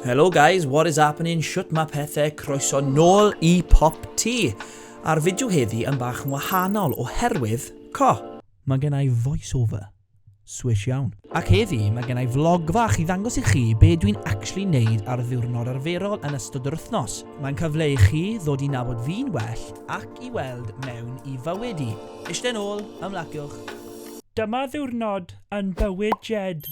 Hello guys, what is happening, shwt mae pethau, croeso nôl i Pop Ti. A'r fideo heddi yn bach yn wahanol oherwydd co. Mae gen i voiceover. Swish iawn. Ac heddi mae gen i vlog fach i ddangos i chi be dwi'n actually neud ar ddiwrnod arferol yn ystod yr wythnos. Mae'n cyfle i chi ddod i nabod fi'n well ac i weld mewn i fywyd i. Ishte nôl, ymlaciwch. Dyma ddiwrnod yn bywyd Jed.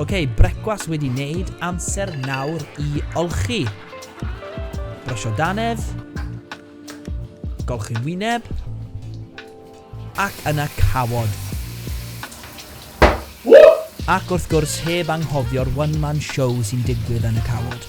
Ok, brecwas wedi wneud, amser nawr i olchi. Brysio danedd. Golchi wyneb. Ac yna cawod! Ac wrth gwrs heb anghofio'r one man show sy'n digwydd yn y cawod.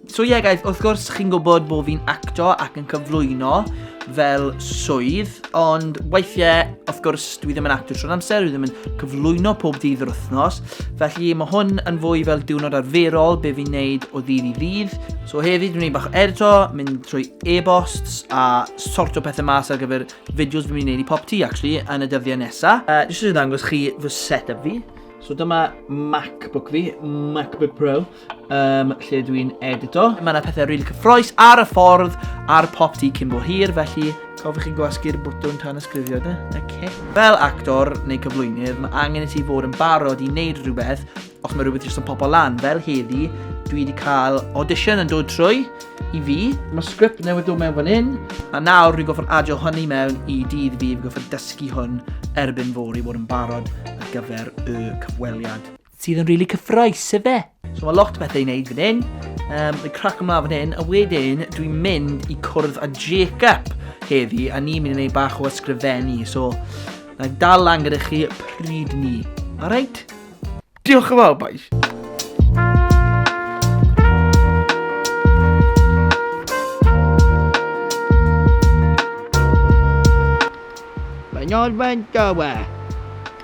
So ie yeah, guys, wrth gwrs chi'n gwybod bod fi'n acto ac yn cyflwyno fel swydd, ond weithiau, wrth gwrs, dwi ddim yn acto trwy'r amser, dwi ddim yn cyflwyno pob dydd yr wythnos, felly mae hwn yn fwy fel diwrnod arferol be fi'n neud o ddydd i ddydd. So heddi dwi'n neud bach o edito, mynd trwy e-bosts a sorto pethau mas ar gyfer fideos fi'n neud i pop ti, actually, yn y dyddiau nesaf. Uh, Jyst yn dangos chi fy set-up fi. So dyma MacBook fi, MacBook Pro. um, lle dw i'n edito. Mae yna pethau rili really cyffroes ar y ffordd ar pop di cyn bo hir, felly cofiwch chi'n gwasgu'r bwtwn tan ysgrifio de. Okay. Fel actor neu cyflwynydd, mae angen i ti fod yn barod i wneud rhywbeth os mae rhywbeth jyst yn pobl lan. Fel heddi, dwi wedi cael audition yn dod trwy i fi. Mae sgript newydd dod mewn fan hyn, a nawr rwy'n goffo'n adio hynny mewn i dydd fi, fi'n goffo'n dysgu hwn erbyn fori fod yn barod ar gyfer y cyfweliad. Sydd yn really cyffroes, efe? So mae lot o bethau i wneud fan hyn. Um, mae crac ymlaen fan hyn, a wedyn dwi'n mynd i cwrdd â Jacob heddi, a ni'n mynd i wneud bach o ysgrifennu. So, na dal lan gyda chi pryd ni. Alright? Diolch yn fawr, boys. Mae'n orfan gawa.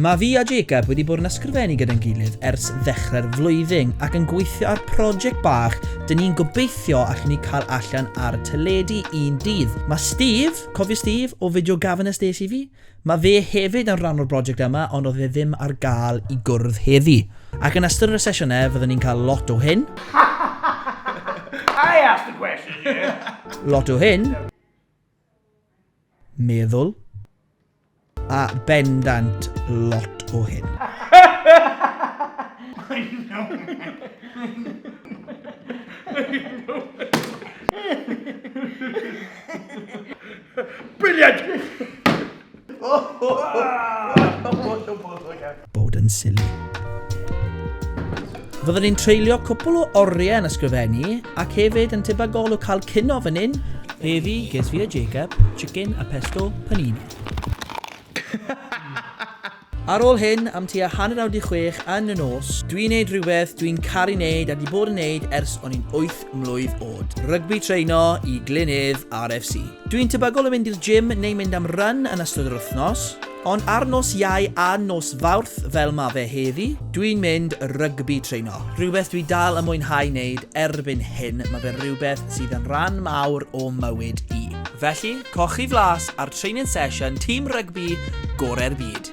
Mae fi a Jacob wedi bod yn ysgrifennu gyda'n gilydd ers ddechrau'r flwyddyn ac yn gweithio ar project bach dyn ni'n gobeithio allen ni cael allan ar y teledu un dydd. Mae Steve, cofio Steve o fideo Gavin a Stacey fi? Mae fe hefyd yn rhan o'r broject yma ond oedd e ddim ar gael i gwrdd heddi. Ac yn ystod y sesiynau fyddwn ni'n cael lot o hyn. I asked the question, yeah! Lot o hyn. meddwl. A bendant lot o hyn. Brilliant! Bod yn silly. Fyddwn ni'n treulio cwpl o oriau yn ysgrifennu ac hefyd yn tebygol o cael cino fan hyn. Fe fi, ges fi a Jacob, chicken a pesto panini. Ar ôl hyn, am tua hanner awr di chwech yn y nos, dwi'n neud rhywbeth dwi'n caru neud a di bod yn neud ers o'n i'n wyth mlwydd oed. Rygbi treino i Glynedd RFC. Dwi'n tebygol o fynd i'r gym neu mynd am run yn ystod yr wythnos, ond ar nos Iau a nos Fawrth fel ma fe heddi, dwi'n mynd rygbi treino. Rhywbeth dwi dal yn mwynhau wneud erbyn hyn, ma fe rhywbeth sydd yn rhan mawr o mywyd i. Felly, cochi flas ar training session tîm rygbi gorau'r byd.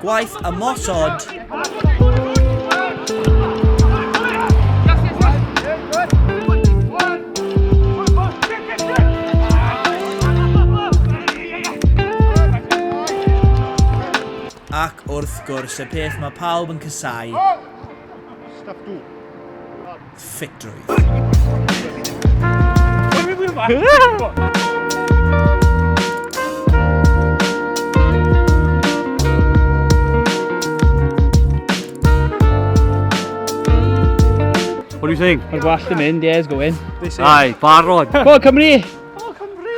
Gwaith ymosod. Ac wrth gwrs, y peth mae pawb yn cysau. ffitrwydd. What do you think? Mae'n gwallt yn mynd, yeah, it's going. Ai, barod. Go on, Cymru! Go on, Cymru!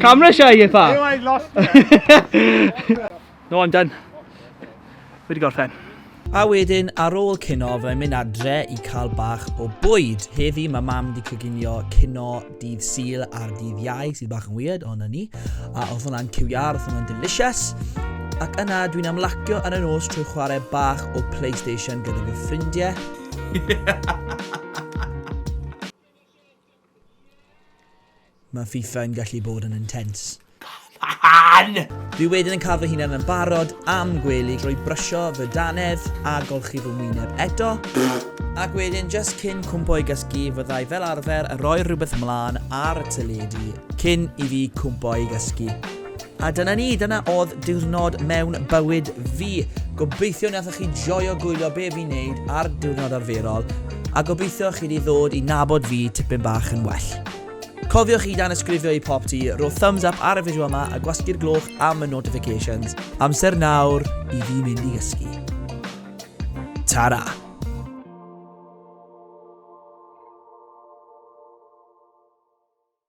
Camera shy, you fat. I lost No, I'm done. Fi 'di gorffen. A wedyn ar ôl cino fyddai'n mynd adre i cael bach o bwyd. Heddi mae mam di coginio cino dydd Sul ar dydd Iau sydd bach yn weird ond na ni. A oedd hwnna'n cyw iar, oedd hwnna'n delicious. Ac yna dwi'n amlacio ar y nos trwy chwarae bach o PlayStation gyda fy ffrindiau. Mae FIFA yn gallu bod yn intense. Come on! Dwi wedyn yn cael fy hunan yn barod am gwely drwy brysio fy dannedd a golchi fy ngwyneb eto, ac wedyn jyst cyn cwmpo i gysgu fyddai fel arfer yn rhoi rhywbeth mlân ar y teledu cyn i fi cwmpo i gysgu. A dyna ni, dyna oedd diwrnod mewn bywyd fi. Gobeithio nathoch chi joio gwylio be fi'n neud ar diwrnod arferol, a gobeithio chi wedi ddod i nabod fi tipyn bach yn well. Cofiwch i dan ysgrifio i pop ti, rho thumbs up ar y fideo yma a gwasgu'r gloch am y notifications. Amser nawr i fi mynd i gysgu. Ta-ra!